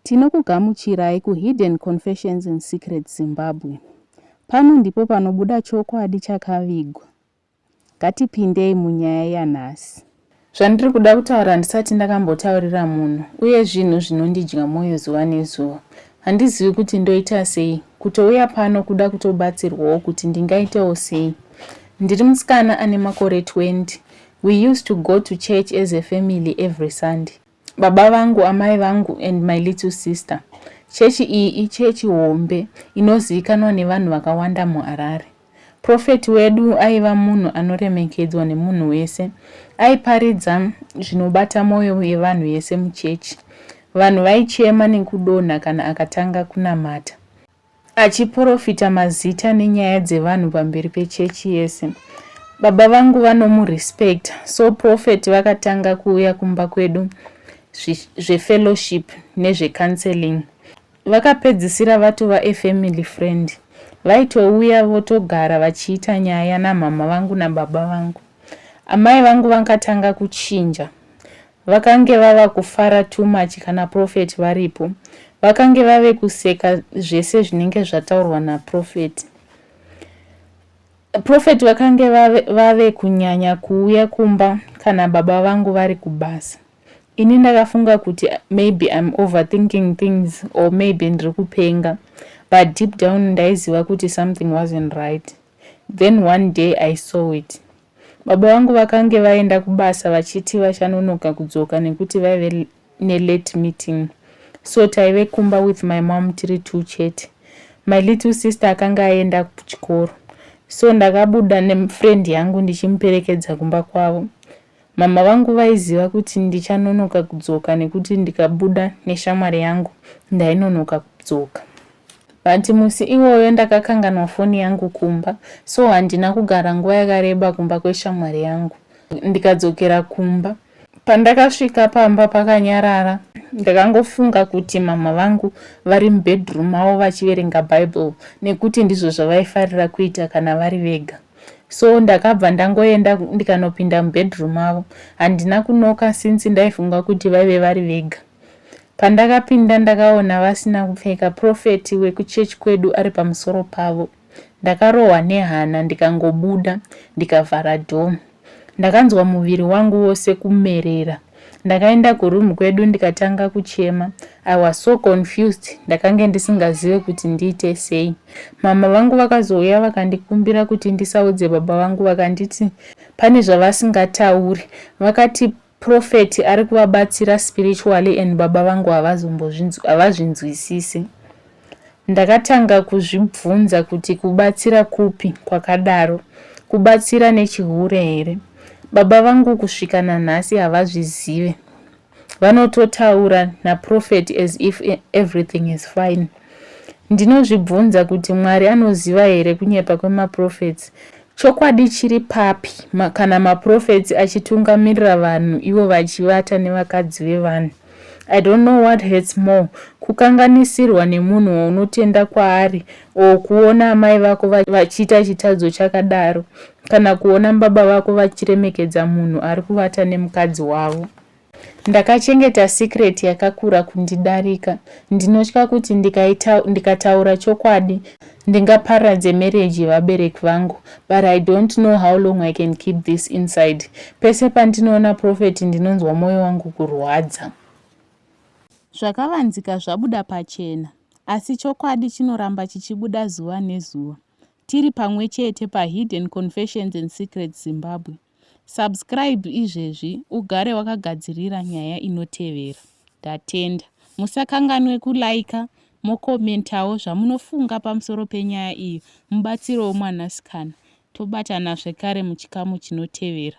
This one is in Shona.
Tinokugamuchirai ku Hidden Confessions and Secrets Zimbabwe. Pano ndipo panobuda chokwadi chakavigwa. Ngatipindei munyaya yanhasi. Zvandiri kuda kutaura handisati ndakambotaurira munhu uye zvinhu zvinondidya mwoyo zuva nezuva. Handizivi kuti ndoita sei. Kutouya pano kuda kutobatsirwawo kuti ndingaitewo sei. Ndiri musikana ane makore 20. We used to go to church as a family every Sunday. Baba vangu, amai vangu and my little sister. Chechi iyi ichechi hombe inozivikanwa nevanhu vakawanda muHarare. Prophet wedu aiva munhu anoremekedzwa nemunhu wese. Aiparidza zvinobata moyo yevanhu yese muchechi. Vanhu vaichema nekudonha kana akatanga kunamata. Achiporofita mazita nenyaya dzevanhu pamberi pechechi yese. Baba vangu vanomurespect so prophet vakatanga kuuya kumba kwedu zvefellowship nezvecounseling. Vakapedzisira vatova efamily friend. Vaitouya votogara vachiita nyaya namhamha vangu nababa vangu. Amai vangu vakatanga kuchinja. Vakange vava kufara too much kana prophet varipo. Vakange vave kuseka zvese zvinenge zvataurwa naprophet. Prophet vakange vave, vave kunyanya kuuya kumba kana baba vangu vari kubasa. Ini ndakafunga kuti maybe I'm overthinking things or maybe ndiri kupenga. But deep down ndaiziva kuti something wasn't right. Then one day I saw it. Baba vangu vakange vaenda kubasa vachiti vachanonoka kudzoka nekuti vaive nelate meeting so taive kumba with my mom tiri two chete. My little sister akange aenda kuchikoro so ndakabuda nefriend yangu ndichimuperekedza kumba kwavo. Mama vangu vaiziva kuti ndichanonoka kudzoka nekuti ndikabuda neshamwari yangu ndainonoka kudzoka. But musi iwoyo ndakakanganwa foni yangu kumba so handina kugara nguva yakareba kumba kweshamwari yangu. Ndikadzokera kumba. Pandakasvika pamba pakanyarara ndakangofunga kuti mama vangu vari mubedroom mavo vachiverenga bible nekuti ndizvo zvavaifarira kuita kana vari vega so ndakabva ndangoenda ndikanopinda mubedroom mavo handina kunoka since ndaifunga kuti vaive vari vega Pandakapinda ndakaona vasina kupfeka prophet wekuchurch kwedu ari pamusoro pavo. Ndakarohwa nehana ndikangobuda ndikavhara door. Ndakanzwa muviri wangu wose kumerera. Ndakaenda kuroom kwedu ndikatanga kuchema. I was so confused ndakange ndisingazive kuti ndiite sei. Mama vangu vakazouya vakandikumbira kuti ndisaudze baba vangu vakanditi pane zvavasingatauri. Vakati Prophet ari kuvabatsira spiritually and baba vangu havazvinzwisisi. Ndakatanga kuzvibvunza kuti kubatsira kupi kwakadaro, kubatsira nechihure here? Baba vangu kusvika nanhasi havazvizive. Vanototaura naProphet as if everything is fine. Ndinozvibvunza kuti Mwari anoziva here kunyepa kwemaprophets Chokwadi chiri papi kana maprophets achitungamirira vanhu ivo vachivata nevakadzi vevanhu? I don't know what hurts more kukanganisirwa nemunhu waunotenda kwaari or kuona amai vako vachiita chitadzo chakadaro kana kuona baba vako vachiremekedza munhu ari kuvata nemukadzi wavo. Ndakachengeta secret yakakura kundidarika. Ndinotya kuti ndikataura chokwadi ndingaparadze marriage yevabereki vangu but I don't know how long I can keep this inside. Pese pandinoona Prophet ndinonzwa moyo wangu kurwadza. Zvakavanzika zvabuda pachena asi chokwadi chinoramba chichibuda zuva nezuva. Tiri pamwe chete paHidden Confessions and Secrets Zimbabwe. Subscribe izvezvi ugare wakagadzirira nyaya inotevera. Ndatenda. Musakanganwe kuliker mokomentawo zvamunofunga pamusoro penyaya iyi mubatsirewo mwanasikana. Tobatana zvekare muchikamu chinotevera.